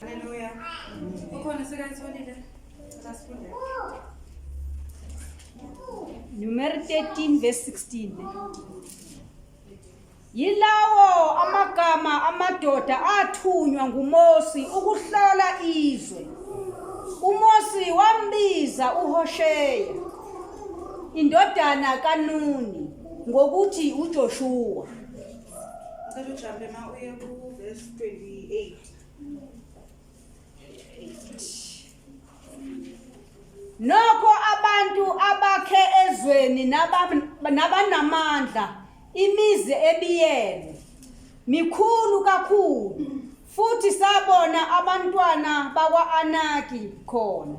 Haleluya. Ukhona sekayitholile. Sasifunde. Numero 13 verse 16. Yilawo amagama amadoda athunywa nguMosi ukuhlola izwe. UMosi wambiza uHosheya indodana kaNuni ngokuthi uJoshua. Ngicela ujampe ma uye ku verse 28. Nokho abantu abakhe ezweni nabanamandla imizi ebiyene mikhulu kakhulu futhi sabona abantwana bakwa-Anaki khona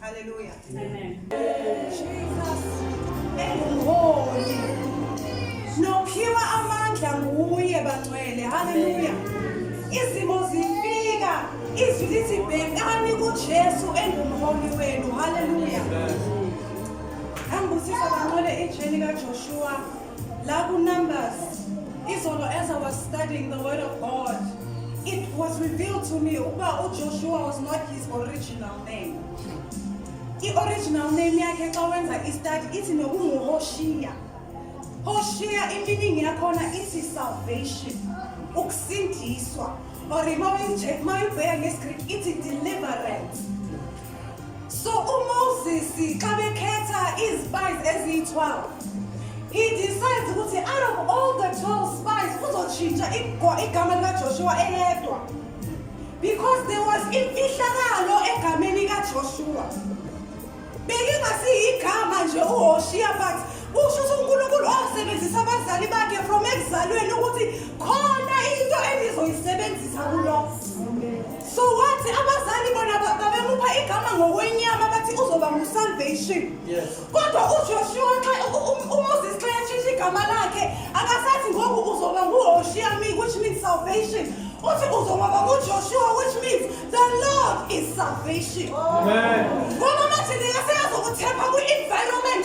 Hallelujah. Amen. Jesus. Engumholi. Nophiwa amandla nguye bangcwele. Hallelujah. Izimo zifika izwi lithi bhekani kuJesu engumholi wenu. Hallelujah. Angibusisa bangcwele ijeni kaJoshua. La ku Numbers, izolo as I was studying the word of God, it was revealed to me ukuba uJoshua was not his original name. I-original name yakhe xa wenza i-study ithi nokunguHoshiya. Hoshiya iminingi yakhona ithi salvation, ukusindiswa. Or uma uyibheka ngesiGreek ithi deliverance. So uMoses xa bekhetha izispice eziyi-12 he decides ukuthi out of all the 12 spies uzotshintsha igama likaJoshua eyedwa because there was imfihlakalo egameni kaJoshua belingasiyigama nje uHoshiya but usho ukuthi uNkulunkulu wasebenzisa abazali bakhe from ekuzalweni ukuthi khona into engizoyisebenzisa kulokho so wathi abazali bona ba- babemupha igama ngokwenyama bathi uzoba ngusalvation Yes. kodwa ujoshua xa u- u- umoses xa yashintsha igama lakhe akasathi ngoku uzoba nguhoshiya me which means salvation uthi uzoba ngujoshua which means the lord is salvation Amen. ngoba manje ndingaseyazokuthepha kwi-environment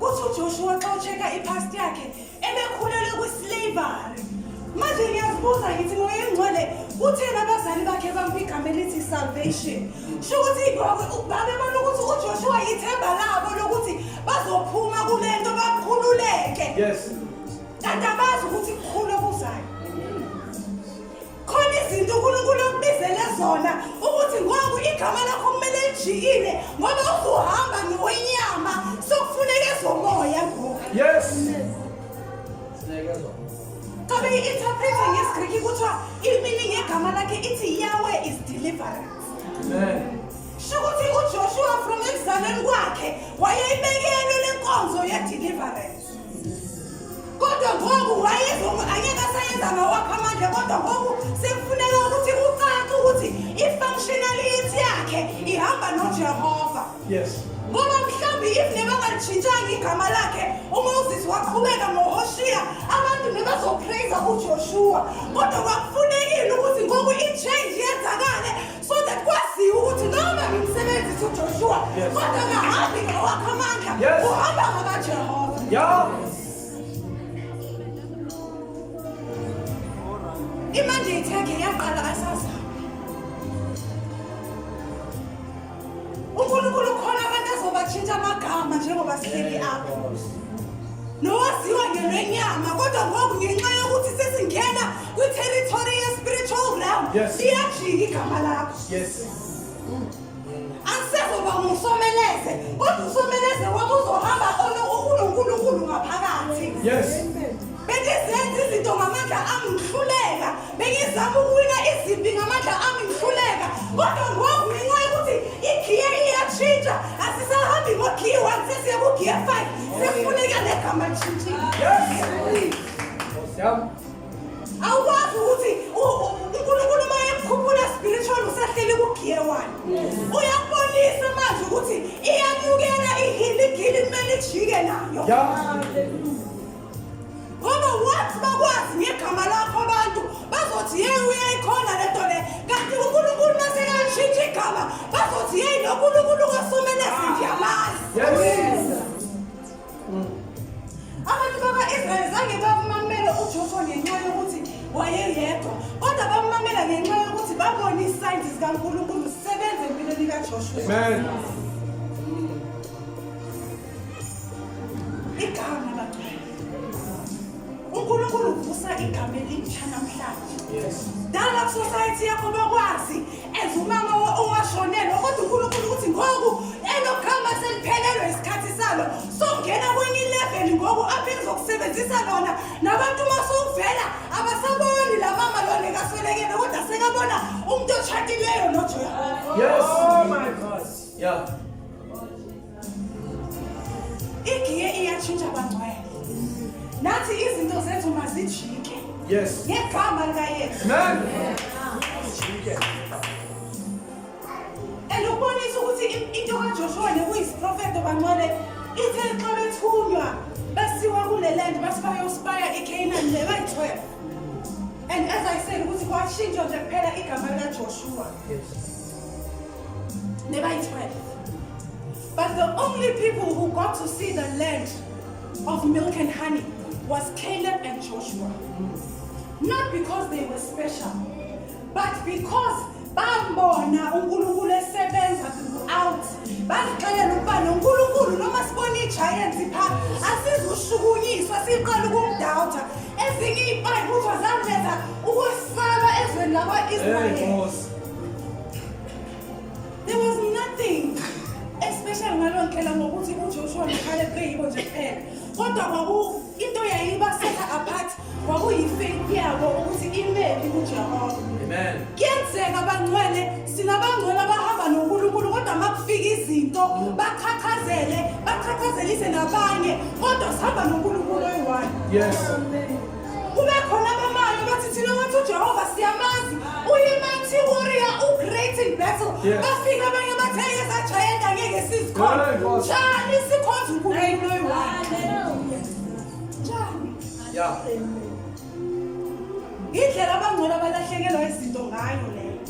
Kuthi uJoshua xa ucheka ipast yakhe ebekhulele kwislavery. Manje ngiyazibuza ngithi ngoyengcwele utheni abazali bakhe bampa igama elithi salvation. Sho ukuthi babe babona ukuthi uJoshua yithemba labo lokuthi bazophuma kule nto bakhululeke. Yes. Kanti abazi ukuthi kukhulu okuzayo. khona izinto unkulunkulu okubizele zona ukuthi ngoku igama lakho kumele lijikile ngoba usuhamba nowenyama sokufuneka ezomoya ngoku yes Kabe i-interprete ngesiGriki kuthiwa i-meaning yegama lakhe ithi Yahweh is deliverance. Amen. Shukuthi uJoshua from ekuzalweni kwakhe wayeyibekele lenkonzo ye-deliverance. kodwa ngoku wayevuma angeke asayenza ngawakho amandla kodwa ngoku sekufuneka ukuthi kucace ukuthi i-functionality yakhe ihamba nojehova yes ngoba mhlawumbe if nebangalishintshanga igama lakhe umoses waqhubeka ngohoshiya abantu nebazoprayiza ujoshua kodwa kwakufunekile ukuthi ngoku i-change yenzakale so that kwaziwa ukuthi noma ngimsebenzisa uJoshua kodwa ngahambi ngawakho amandla uhamba ngakaJehova imanje ithenge yaqala asaza uNkulunkulu ukhona abantu azobatshintsha amagama njengoba sihleli apho nowaziwa ngelwenyama kodwa ngoku ngenxa yokuthi sesingena kwitherithori ye-spiritual realm Yes. liyajika igama lakho Yes. angisezoba ngusomeleze kodwa usomeleze wami uzohamba ono- unonkulunkulu ngaphakathi Yes. bengizenza izinto ngamandla ami ngihluleka bengizama ukuwina izimpi ngamandla ami ngihluleka kodwa ngoku ngenxa yokuthi igiye iyatshintsha asisahambi ngogiye one sesiye kugiye five sekufuneka negama lishintshile Yes. Nkosi yami. awukwazi ukuthi unkulunkulu uma ekukhuphula spiritual usahleli kugiye wani uyakubonisa manje ukuthi iyamukela ihiligili kumele ijike nayo ngoba wathi bakwazi ngegama lakho abantu bazothi yeyi uyayikhona le nto le kanti unkulunkulu masekalishintsha igama bazothi yeyi nonkulunkulu kosumelezi ndiyamazi Abantu bakwa-Israyeli zange bamamele uJoshuwa ngenxa yokuthi wayeyedwa kodwa bamamela ngenxa yokuthi babone isayini zikaNkulunkulu zisebenza empilweni kaJoshuwa. Amen. Igama bagcwele. uNkulunkulu uvusa igama elintsha namhlanje. Yes. Dala society yakho bakwazi As umama owashonelwa kodwa uNkulunkulu ukuthi ngoku elokhamba seliphelelwe isikhathi salo songena kwenye ilevel ngoku aphinde zokusebenzisa lona nabantu uma sowuvela abasaboni la mama lona ekaswelekele kodwa sekabona umuntu otshatileyo noJehova. Yes. Oh my God. Yeah. igiye iyatshintsha bangcwele nathi izinto zethu mazijike yes ngegama likayesu and ukubonisa ukuthi into kajoshua nekuyisiprofeto bangcwele ithe xa bethunywa basiwa kule land basi bayospaya icanaan le bayi-12 and as i said ukuthi kwashintshwa nje kuphela igama likajoshua yes. They were 12. But the only people who got to see the land of milk and honey was Caleb and Joshua. Not because they were special, but because bambona uNkulunkulu esebenza throughout bazixelela ukuba noNkulunkulu noma sibona i-giant pha asizushukunyiswa siqala ukumdawutha ezinye iy'payiphuthwa zangenza ukwesaba ezweni lakwa-israyeli There was nothing especially ngaloo ndlela ngokuthi uJoshua noKhale beyibo nje kuphela kodwa kwaku into yayibasetha apart kwakuyi-faith yabo ukuthi imephi kujehova kuyenzeka bangcwele sinabangcwele abahamba nonkulunkulu kodwa uma kufika izinto baqhaqhazele baqhaqhazelise nabanye kodwa sihamba nonkulunkulu oyi-one yes. Kube khona abamali bathi thina wathi uJehova siyamazi uyimathi warrior ugreat in battle. Yeah. Bafika abanye bathe yeza giant angeke sizikhona. Glory, glory. Njani sikhonza uNkulunkulu oyi-one. Njani? Yeah. Indlela abangcono abalahlekelwa izinto ngayo leyo.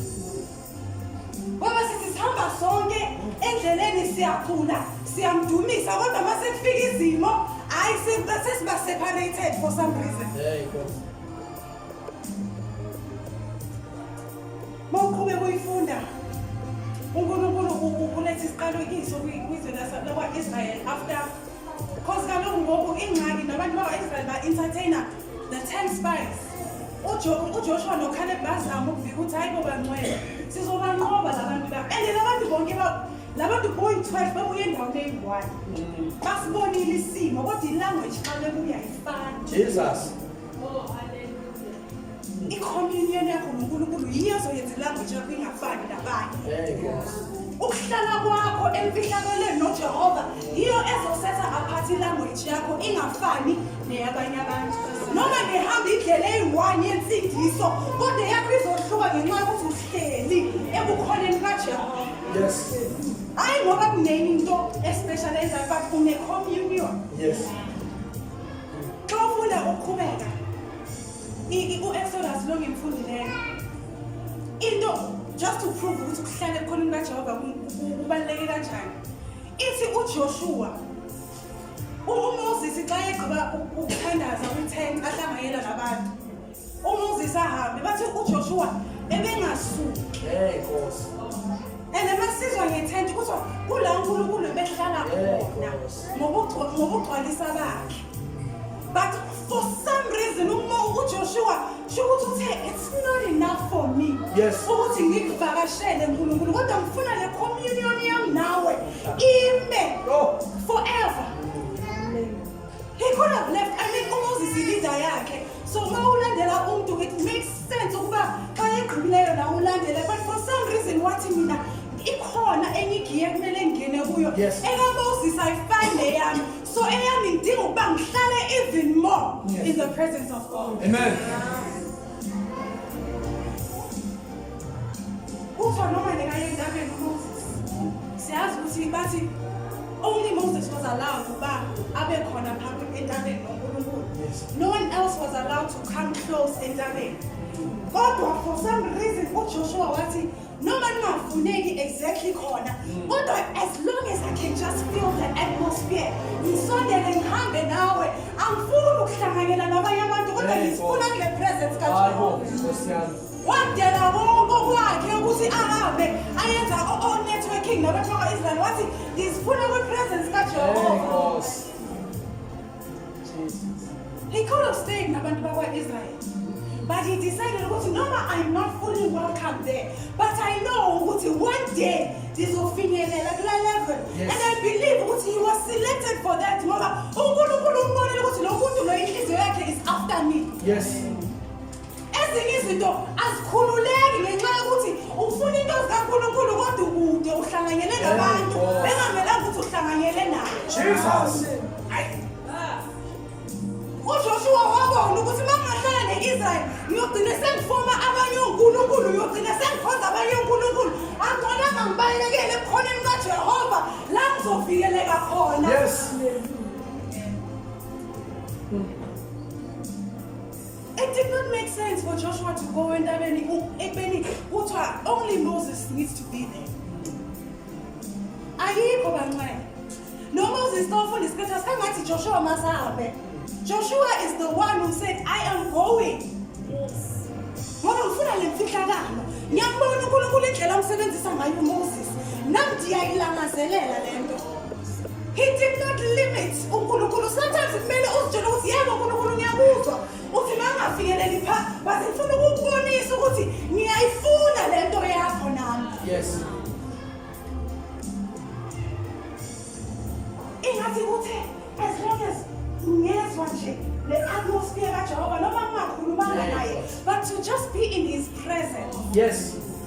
Baba sithi sihamba sonke endleleni siyakhula siyamdumisa kodwa uma sekufika izimo hayi sesiba separated for some reason. Hey Nkosi. Mawuqhube kuyifunda uNkulunkulu uletha isiqalekiso kwizwe lakwa-Israyeli after cause kaloku ngoku ingxaki nabantu bakwa-Israyeli ba-entertainer The Ten Spies. UJoshua noKhaleb bazama ukuvika ukuthi hayi boba ngcwele. Sizobanqoba labantu la. And labantu bonke ba labantu boy 12 babuye endaweni eyi-one. Mm. Basibonile isimo kodwa i-language xa bebuya ifana. Jesus. i-communion yakho nonkulunkulu yiyo ezoyenza ilanguage yakho ingafani nabanye ukuhlala kwakho emfihlakelweni nojehova yiyo ezosetha aphathi ilanguage yakho ingafani neyabanye abantu noma ngihamba indlela eyi-one yensindiso kodwa yakho izohluka ngenxa yokuthi uhleli ebukhoneni kajehova yes hayi ngoba kunenye into especial eyenzayo but une-communion yes xa ufuna ukuqhubeka u-exodus lo ngimfundileyo into just to prove ukuthi kuhlale ebukhoneni kajehova kubaluleke kanjani ithi ujoshua UMoses xa egqiba ukuthandaza kwi-ten ahlanganyela nabantu uMoses ahambe bathi uJoshua ebengasuki hey nkosi and masizwa ngethenti kuthiwa kula uNkulunkulu behlala khona ngokugcwalisa bakhe but For some reason uma uJoshua shokuthi uthe it's not enough for me. Yes. Ukuthi ngikuvakashele uNkulunkulu kodwa ngifuna le communion yami nawe ime forever. He could have left. I mean uMoses ileader yakhe. So uma ulandela umuntu it makes sense ukuba xa egqibileyo nawe ulandele but for some reason wathi mina ikhona enye igiye kumele ngingene kuyo. Yes. Ekamoses ayifani neyami. So eyami ngidinga ukuba ngihlale even more in the presence of God. Amen. Ufa noma ndingaye endabeni uMoses. Siyazi ukuthi bathi only Moses was allowed ukuba abe khona phambi entabeni noNkulunkulu. No one else was allowed to come close entabeni. Kodwa for some reason uJoshua wathi noma ningafuneki exactly khona mm. kodwa as long as i can just feel the atmosphere ngisondele ngihambe nawe angifuni ukuhlanganyela nabanye abantu kodwa ngizifuna kule presence kajehova wadela konke okwakhe ukuthi ahambe ayenza o-networking nabantu bakwa-israyeli wathi ngizifuna kwi-presence kajehova He could have stayed nabantu bakwa-Israel. But he decided ukuthi noma I'm not fully welcome there, but I know ukuthi one day ndizofinyelela kula level. Yes. And I believe ukuthi he was selected for that ngoba uNkulunkulu umbonile ukuthi lo muntu lo inhliziyo yakhe is after me. Yes. ezinye izinto azikhululeki ngenxa yokuthi ufuna into zikaNkulunkulu kodwa ukude uhlanganyele nabantu bengamelanga ukuthi uhlanganyele nayo Jesus uJoshua wabona ukuthi mangahlala ne-Israel ngiyogcina sengifoma abanye onkulunkulu ngiyogcina sengikhonza abanye onkulunkulu angiconanga ngibalekele ebukhoneni kaJehova la ngizovikeleka khona yes. It did not make sense for Joshua to go entabeni ekubeni kuthiwa only Moses needs to be there. Ayikho bancane. No Moses ka ufunda isikhathi asangathi Joshua masahambe. Joshua is the one who said I am going. Yes. Ngoba ngifuna le mfihlakalo. Ngiyakubona uNkulunkulu indlela omsebenzisa ngayo uMoses. Nam ndiyayilangazelela le nto. He did not limit uNkulunkulu. Sometimes kumele uzitshele ukuthi yebo uNkulunkulu ngiyakuzwa. Uthi mangafikeleli pha, but ngifuna ukukubonisa ukuthi ngiyayifuna le nto yakho nami. Yes. Ingathi kuthe as long as ngezwa nje le atmosphere kaJehova noma ngingakhulumanga naye but to just be in his presence. Yes.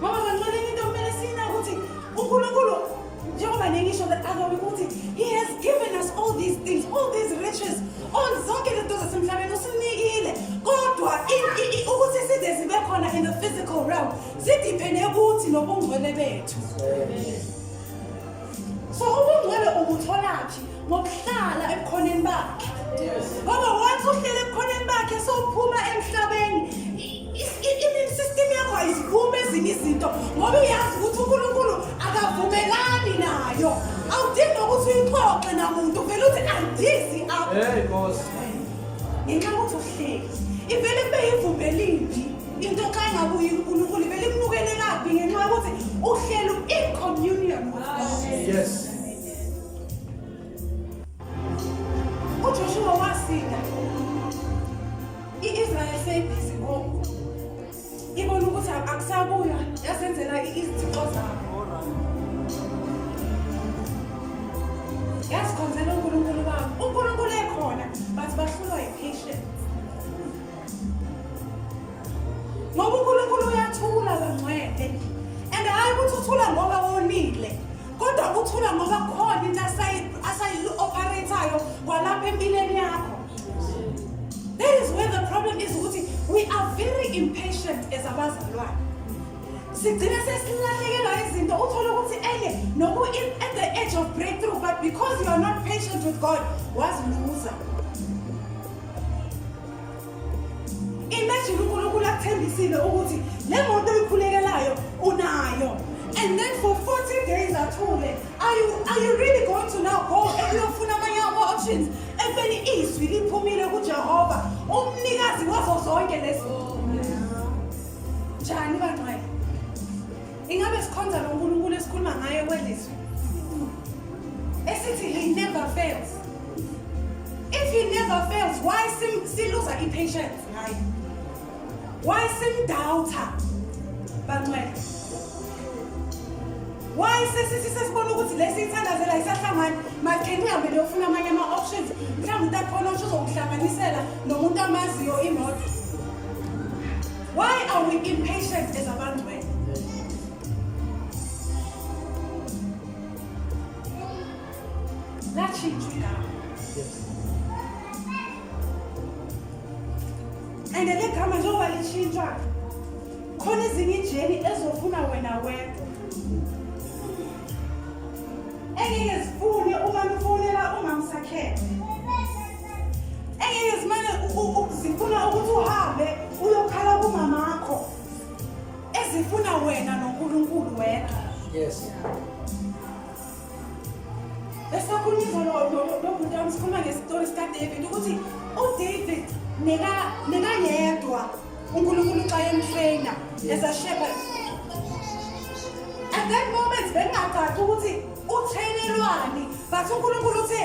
Mama kancane into kumele sina ukuthi uNkulunkulu njengoba nengisho that akabi ukuthi he has given us all these things all these riches all zonke lento zasemhlabeni usinikile kodwa ukuthi size zibe khona in the physical realm sidipene kuthi nobungcwele bethu so ubungcwele ubutholaphi ngokuhlala ebukhoneni bakhe ngoba once uhlele ebukhoneni bakhe sowuphuma emhlabeni i-immune system yakho ayiziphumi ezinye izinto ngoba uyazi ukuthi unkulunkulu akavumelani nayo awudingi ukuthi uyixoxe namuntu uvele uthi andizi apha ngenxa yokuthi uhleli ivele kube yivumbelimbi into xa ingabuyi unkulunkulu belimnukele kabi ngenxa yokuthi uhlelo incommunion yes ujoshuwa wasinda i-israyeli seyibhizi ngoku ibona ukuthi akusabuya yazenzela izithixo zabo yazikhonzela unkulunkulu babo unkulunkulu ekhona but bahlulwa yi-patience ngoba unkulunkulu uyathula bangcwele and hhayi ukuthi uthula ngoba wonile kodwa uthula ngoba khona into asayi-operator-yo kwalapha empilweni yakho that is where the problem is ukuthi we are very impatient as abazalwane sigcine sesilahlekelwa izinto uthole ukuthi enye noku at the edge of breakthrough but because you are not patient with god waziluza Imagine uNkulunkulu akuthembisile ukuthi le moto oyikhulekelayo unayo and then for 40 days athule are you, are you really going to now go ekuyofuna amanye ama-options ekubeni izwi liphumile kujehova umnikazi wazo zonke lezi njani bangcwele Ingabe sikhonza lo Nkulunkulu esikhuluma ngaye kwelizwe? Esithi he never fails. If he never fails, why sim siluza i-patience ngaye? Why simdoubter? Bancwele. Why sesithi sesibona ukuthi lesi ithandazela isahlangani? Matheni uhambe leyofuna amanye ama-options. Mhlawumbe utakhona usho uzokuhlanganisela nomuntu amaziyo imoto. Why are we impatient as abantu wena? Latshintshwa igama. And le gama njengoba litshintshwa khona ezinye ijeni ezofuna wena wedwa. Engeke zifune uma nifonela umamsakhele. engeke zimane zifuna ukuthi uhambe uyokhala kumama wakho ezifuna wena nonkulunkulu wedwa yes esakhuluma izolo nomuntu wami sikhuluma ngesitori sikaDavid ukuthi uDavid nekayedwa uNkulunkulu xa emtraina as a shepherd at that moment bengingacaci ukuthi uthelelwani but unkulunkulu uthe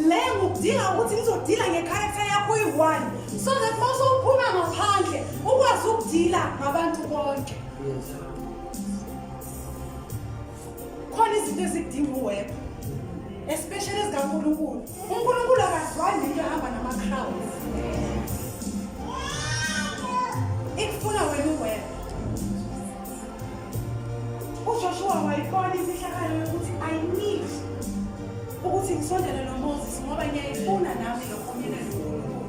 le ngikudinga ukuthi ngizodila ngecharacter yakho uyi-one so that uma sowuphuma ngaphandle ukwazi ukudila ngabantu bonke khona izinto ezidinga uweba especially ezikankulunkulu unkulunkulu akazwani nento ehamba nama-crowds ikufuna wena uweba uJoshua wayibona imfihlakalo yokuthi i need ukuthi ngisondele nomoses ngoba ngiyayifuna nami lo community unkulunkulu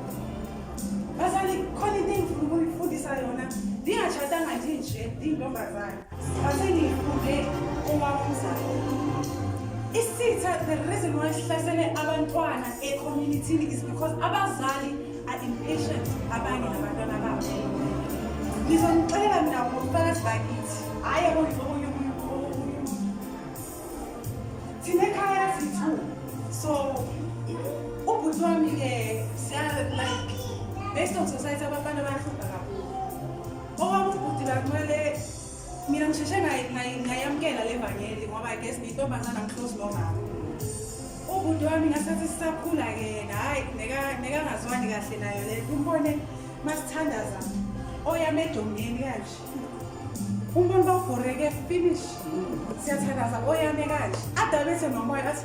bazali khona into engifuna ukuyifundisa yona ndingatshatanga nje nje ndiyintombazane basengiyifunde owamumzalo isitha the reason why sihlasele abantwana ecommunitini is because abazali impatient abanye nabantwana babo ngizonixelela mina ngobufakazi bakithi hhayi okunye thina ekhaya sithu so ubhuti wami-ke like based on society abafana bahlupha kakhulu okwami ubhuti bakumele mina ngisheshe ngayamukela le vangeli ngoba i guess ngiyintombazana ngiclose nomama ubhuti wami ngasathi sisakhula ke yena hhayi nekangazwani kahle nayo le umbone masithandaza oyame edongeni kanje umbone bawubhoreke finish siyathandaza oyame kanje adabethe nomoya athi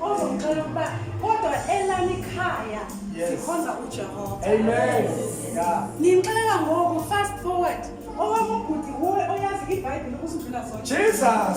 ozongicela ukuba kodwa elami ikhaya sikhonza ujehova amen ngimxelela ngoku fast forward owami ubhuti wuwe oyazi ibhayibhile kusindlula zona jesus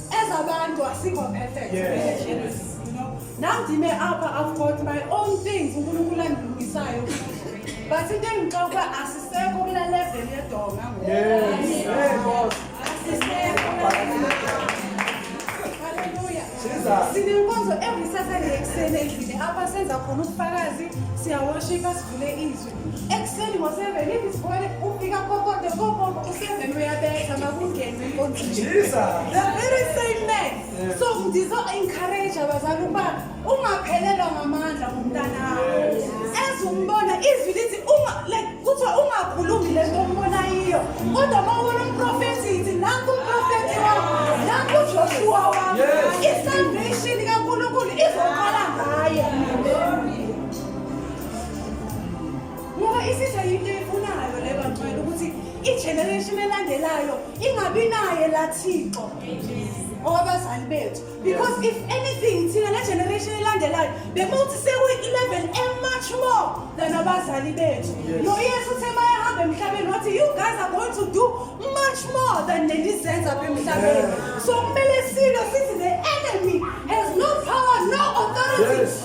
As abantu asikho perfect. Yes. yes. You know, nandime apha I've got my own things uNkulunkulu andilungisayo. But into engixoxa ukuba asisekho kula level yedonga ngoku. Yes. Yes. Asisekho. Hallelujah. Jesus. Sinenkonzo every Saturday ekuseni endlini apha senza khona ubufakazi siyawashipa sivule izwi. Ekuseni ngo-seven ibisibone ufika kokote kobobo u-seven uyabetha makungene enkonzini. The very same man. So ngizo-encourage abazali ukuba ungaphelelwa ngamandla ngumntanakho. As umbona izwi lithi uma like kuthiwa ungakhulumi le nto ombona yiyo. Kodwa uma ubona umprofethi yithi nanku umprofethi wakho, nanku uJoshua wakho. I-salvation kaNkulunkulu izoqala ngaye. ngoba isizwe yinto eyifunayo le bangcwele ukuthi igeneration elandelayo ingabi naye la thixo owabazali bethu because if anything thina le generation elandelayo bekuthi sekuyi-11 emuch more than abazali bethu noyesu uthe mayehamba emhlabeni wathi you guys are going to do much more than nenizenza apha emhlabeni so kumele silo sithi the enemy has no power no authority yes.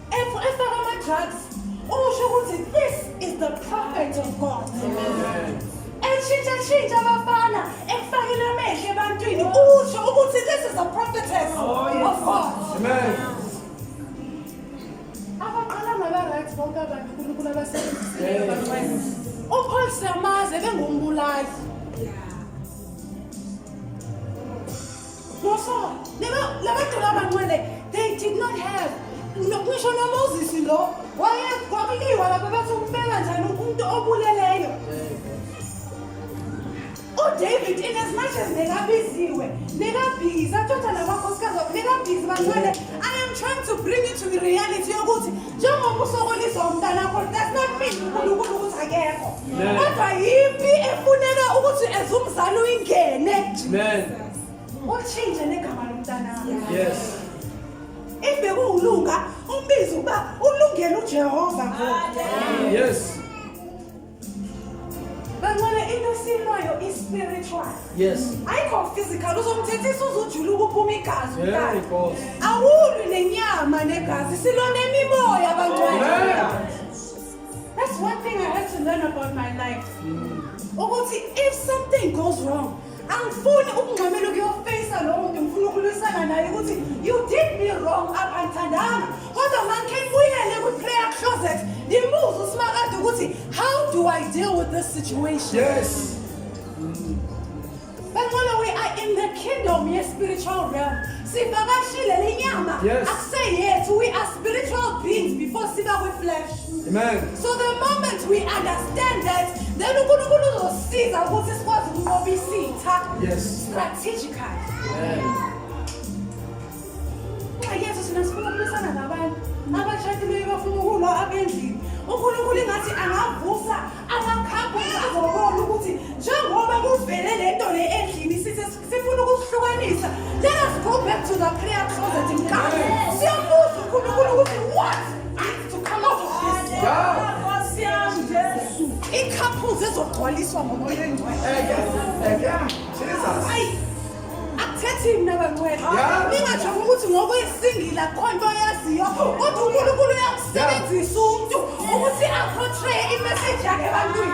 efaka ama-drugs usho ukuthi this is the prophet of god etshintshatshintsha abafana ekufakile amehlo ebantwini usho ukuthi this is a prophetess oh, of god abaqala ngaba-right bonke abantu unkulunkulu abasebenzisileyo bancwele upaul siyamazi ebengumbulali Before, labantu labancwele, they did not have. Ngisho noMoses lo, waye kwakuliwa lapha bathi umbeka njani umuntu obuleleyo. uDavid in as much as nekabiziwe, nekabhizi, athatha namakhosikazi wakhe, nekabhizi bancwele. I am trying to bring you to the reality yokuthi njengoba usokolisa umntanakho does not mean uNkulunkulu ukuthi akekho. Kodwa yimpi efuneka ukuthi as umzali uyingene. Amen. Utshintshe negama lomntanami. Yes. Ibe kuwuluka umbizo uba ulungele uJehova ngoku. Yes. Bancane into esilwayo i spiritual. Yes. Ayikho physical uzomthethisa uzujula ukuphuma igazi umntana. Awulwi nenyama negazi silwa nemimoya bancane. That's one thing I had to learn about my life. Mm. Ukuthi if something goes wrong angifuni ukungxamela ukuyofeyisa lowo muntu ngifuna ukulwisana naye ukuthi you did me wrong apha ngithandanga kodwa mangikhe ngibuyele kwi-prayer closet ndimuze usimakade ukuthi how do i deal with this situation yes bangcono we are in the kingdom ye-spiritual realm sivakashile le nyama Yes. akuseyethu we are spiritual beings before siba kwi-flesh Amen. so the moment we understand that then unkulunkulu uzosiza ukuthi sikwazi ukunqoba isitha Yes. strategically nxa yesu sina sifuna ukulwisana nabantu abashadileyo bafuna ukulwa abendlini unkulunkulu ingathi angavusa amakhapha azobola ukuthi njengoba kuvele le nto le endlini sifuna ukuhlukanisa let us go back to the prayer closet mkani siyabuza uNkulunkulu ukuthi what needs to come out of this i-couples ezogcwaliswa ngomoya oyingcweleayi akuthethe mina bangcwele ningajabu ukuthi ngokwesingila khona into oyaziyo kodwa unkulunkulu uyakusebenzisa umntu ukuthi aportraye imeseji yakhe ebantwini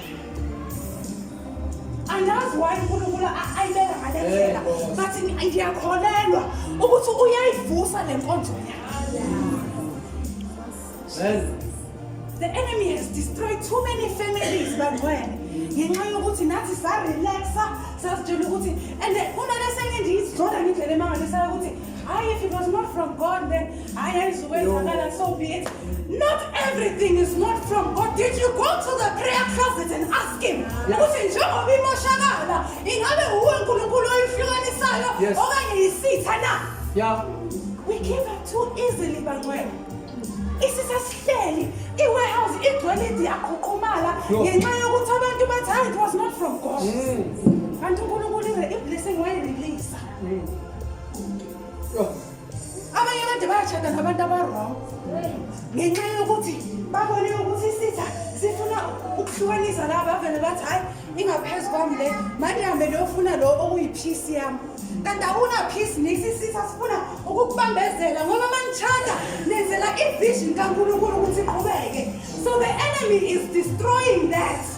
andazi why unkulunkulu ayibeka ngalendlela but ndiyakholelwa ukuthi uyayivusa le nkonzo yakhe the enemy has destroyed too many families bangcwele ngenxa yokuthi nathi sarelaxa sazitshela ukuthi and kunalesenye ndiyizona ngendlela emangalisayo ukuthi Hayi, if it was not from God, then I is away from God and so be it. Not everything is not from God. Did you go to the prayer closet and ask him? Ukuthi njengoba imoshakala, ingabe uwe uNkulunkulu oyihlukanisayo Yes. okanye yisitha na? Yeah. We give up too easily bangcwele. Isitha sihleli, i-warehouse igcwele idi yaqhuqhumala Yo. ngenxa yokuthi abantu bathi hayi it was not from God. Kanti uNkulunkulu ibe i-blessing wayirelease. abanye kade bayashada nabantu abarong ngenxa yokuthi babone ukuthi isitha sifuna ukuhlukanisa laba bavele bathi hhayi ingaphezu kwami le mandihambe leyofuna lo okuyiphisi yami kanti awuna phisi nisisitha sifuna ukukubambezela ngoba manishada nenzela ivision kankulunkulu ukuthi iqhubeke so the enemy is destroying that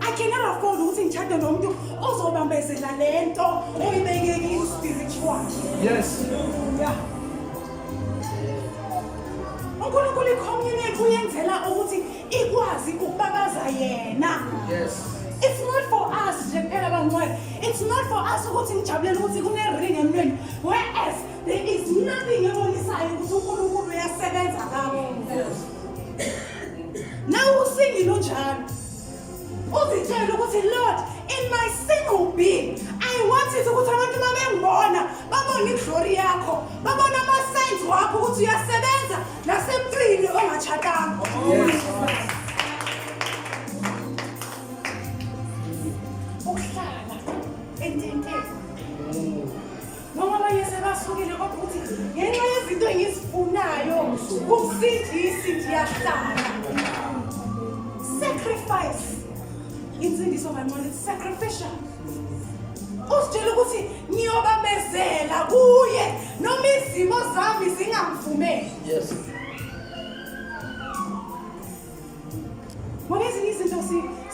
I cannot afford ukuthi ngitshade nomuntu ozobambezela le nto oyibeke ki-spiritual. Yes. Yeah. uNkulunkulu i-community uyenzela ukuthi ikwazi ukubabaza yena. Yes. It's not for us nje kuphela bangcwele. It's not for us ukuthi ngijabulela ukuthi kune-ring emntwini. Whereas there is nothing ebonisayo ukuthi uNkulunkulu uyasebenza kabi. Nawe usingile unjalo. Uzitshela ukuthi Lord in my single being I want it ukuthi abantu mabengibona babone iglory yakho babone ama signs wakho ukuthi uyasebenza nasemntwini ongatshakanga. Yes. noma abanye sebasukile kodwa ukuthi ngenxa yezinto engizifunayo kumsindisi ndiyahlala sacrifice insindiso kanqono sacrificial uzitshela ukuthi ngiyobamezela kuye noma izimo zami zingamvumeli yes. ngoba ezinye izinto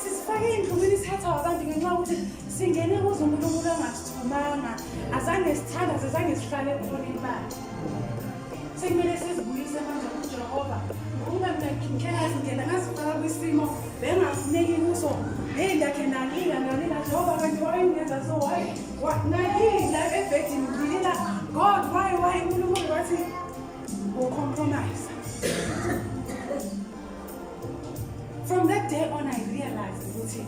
sizifake ey'ndlumini sithathwa abantu ngenxa yokuthi singene kuze umuntu umuntu angasithumanga azange sithandaze azange sihlale khona imali sekumele sizibuyise manje kujehova ngokuba mina ngikela zindlela ngazifaka kwisimo bengafuneki kuso heyi ndakhe nalila nalila jehova kanti wayengenza so wayi nalila ebhedini ngilila god why why unkulunkulu wathi Ucompromise. From that day on I realized ukuthi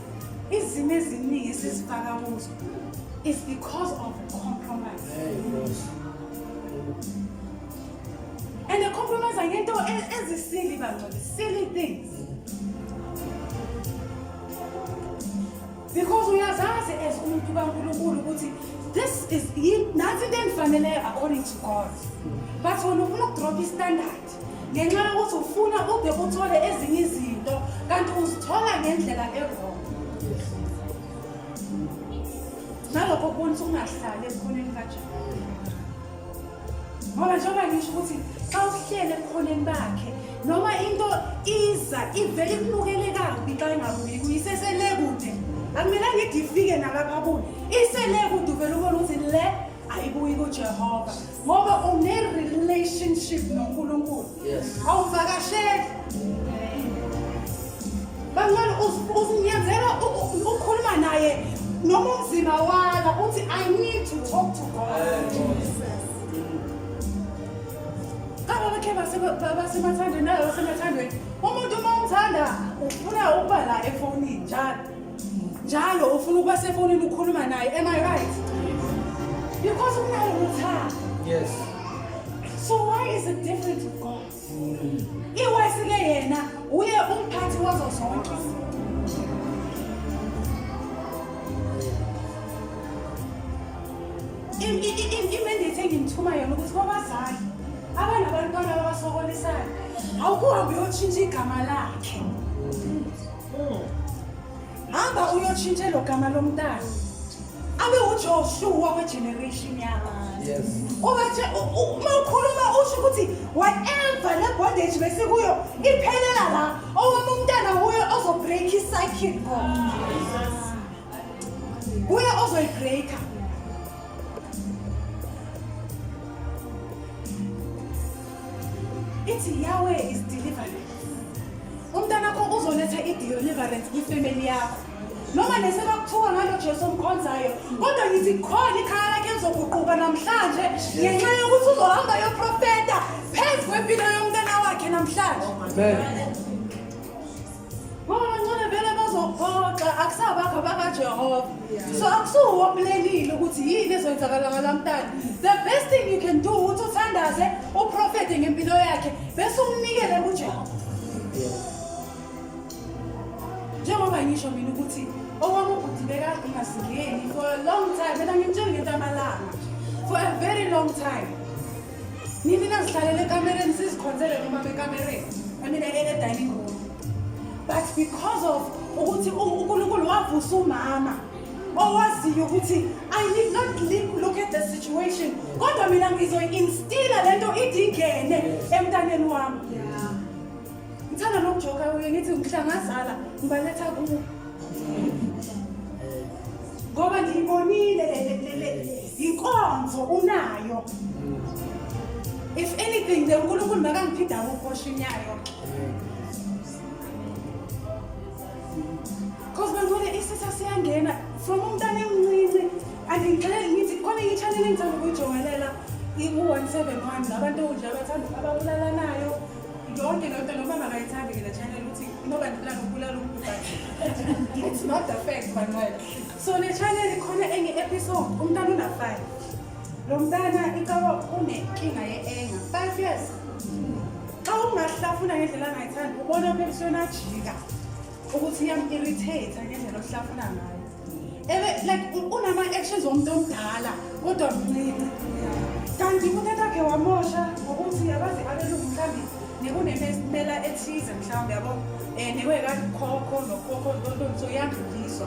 izimo eziningi esizifaka kuzo is because of compromise. And the compromise ngento e- ezisili bangcwele, silly things. because uyazazi as umuntu kaNkulunkulu ukuthi this is nansi into engifanele according to God but wena ufuna ukudropha istandard ngenxa yokuthi ufuna ude uthole ezinye izinto kanti uzithola ngendlela ewrong nalokho kubonisa ukungahlali ekhoneni kajehova ngoba njengoba ngisho ukuthi xa uhlele ebukhoneni bakhe noma into iza ivele ikunukele kabi xa ingabuyi kuyisesele kude akumela ngithi ifike nalapha kuyo isele kude uvele ubona ukuthi le ayibuyi kujehova ngoba une-relationship nonkulunkulu awuvakasheli bangcwele uzinyazela ukhuluma naye noma umzima wala uthi i need to talk to god kaba bakhe basemathandweni nayo basemathandweni umuntu uma umthanda ufuna ukuba la efonini njalo njalo ufuna ukuba sefonini ukhuluma naye am i right because unayo uthando yes so why is it different to god iwesike yena uye umphathi wazo zonke imendate engimthuma yona ukuthi kwabazali abanabantwana abasokolisayo awukuhambe uyotshintsha igama lakhe hamba uyotshintsha elo gama lomntana abe ujoshua wegeneration yakho ubathe uma ukhuluma usho ukuthi whatever le bondage besikuyo iphelela la owami umntana wuye ozobreak icycle ko wuye ozoyibreaka ithi yahweh is deliverance umntanakho uzoletha i-deliverance kwifemeli yakho noma nesebakuthiwa ngalo jesu omkhonzayo kodwa ngithi khona ikhaya lakhe lizoguquka namhlanje ngenxa yokuthi uzohamba yoprofeta phezu kwempilo yomntana wakhe namhlanje ngoba bancane vele bazophoxa akusabakho bakajehova so akusuwomlelile ukuthi yini ezoyenzakala ngalamntana the best thing you can do ukuthi uthandaze uprofete ngempilo yakhe bese umnikele kujehova njengoba ngisho mina ukuthi okwami ubhuti bekade ungasingeni for a long time mina ngimtshengeta amalanga for a very long time nini nazihlalele ekamereni sizikhonzele noma bekamereni i mean ene-dining room but because of ukuthi unkulunkulu wavusa umama owaziyo ukuthi i need not look at the situation kodwa mina ngizoyi-instila le nto idingene emntaneni wami ngithanda nokujoka kuye ngithi ngihlangazala ngibaletha kuwo ngoba ngiyibonile yinkonzo unayo if anything the unkulunkulu makangiphinde akukoshinyayo Cause bangibona isisa siyangena from umntana emncinci andingixele ngithi khona i-channel engithanda ukuyijongelela iku-one seven one nabantu nje abathanda ababulalanayo yonke leyo nto noma makayithandi ke le channel ukuthi inoba ndibulala ukubulala umuntu but it's not the fact banqwela so le channel ikhona enye-episode umntana una-five Lo mntana icaba unenkinga ye-enga five years xa ungahlafuna ngendlela angayithandi ubona phela usuyonajika ukuthi iyam-irritate ngendlela ohlafuna ngayo like unama-actions womuntu omdala kodwa mncinci kanti umthetho wakhe wamosha ngokuthi abazi abelungu mhlawumbe nekunemela ethize mhlawumbe yabo um eh, newekakhokho nokhokho lonto so iyadluliswa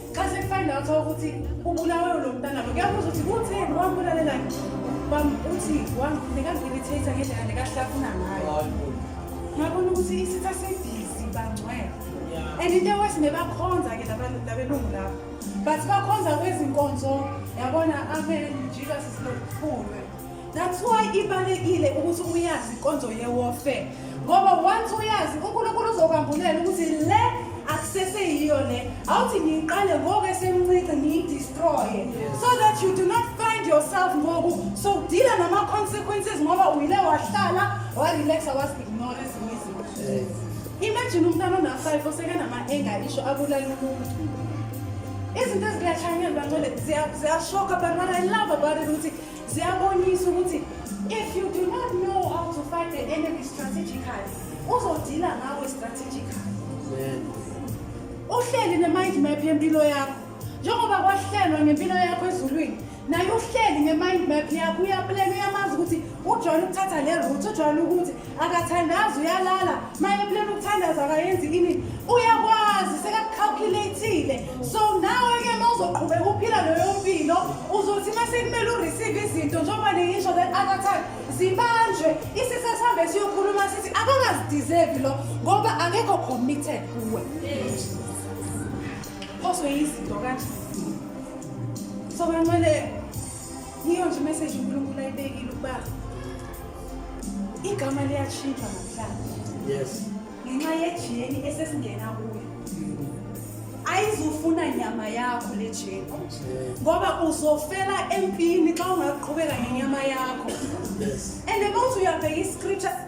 xa sekufanele uthola ukuthi ubulawe lo mntana lo kuyabuza ukuthi kutheni wambulalelani uthi nekangilithetha ngendlela nekahlafuna ngayo ngabona ukuthi isitha sedizi bangcwele and into ewesi nebakhonza-ke labelungu lapho but bakhonza kwezinkonzo yabona amen jesus is not poor That's why ibalekile ukuthi uyazi inkonzo yewarfare ngoba once uyazi uNkulunkulu uzokwambulela ukuthi le akusese yiyo le awuthi ngiyiqale ngoku esemncinci ngiyidestroye so that you do not find yourself ngoku so deala nama-consequences ngoba uyile wahlala warelaxa wasignore ezinye izinto imagine umntana ona-five osekanama-enga isho abulala umuntu izinto ezikulahlanyelwa ngcole ziyashoka but what i love about it ukuthi ziyabonisa ukuthi if you do not know how to fight the enemy strategically uzodila ngawe strategically uhleli ne-mind map yempilo yakho njengoba kwahlelwa ngempilo yakho ezulwini naye uhleli nge-mind map yakho uyaplana uyamazi ukuthi ujwayele ukuthatha le route ujwayele ukuthi akathandazi uyalala maye plan ukuthandaza akayenzi ini uyakwazi sekakucalculateile so nawe ke mawuzoqhubeka uphila leyo mpilo uzothi masekumele ureceive izinto njengoba ningisho that other time zibanjwe isisa sihambe siyokhuluma sithi akakazideserve lo ngoba akekho committed kuwe phoswe yizinto kanje so benqwele yiyo nje imeseji unkulunkulu ayibekile ukuba igama liyashintsha namhlanje yes ngenxa yejeni esesingena kuyo ayizufuna nyama yakho le jeni ngoba uzofela empini xa ungaqhubeka ngenyama yakho and about uyabheka iscripture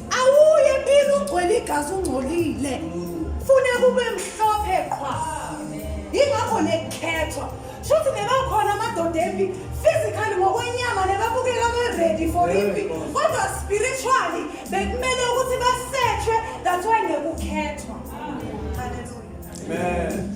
Awuye empini ugcwele igazi ungcolile. Fune kube mhlophe qhwa. Yingakho nekukhethwa. Shuthi nebakhona amadoda empi physically ngokwenyama nebabukeka be-ready for impi kodwa spiritually bekumele ukuthi basetshwe that's why nekukhethwa. Hallelujah. Amen.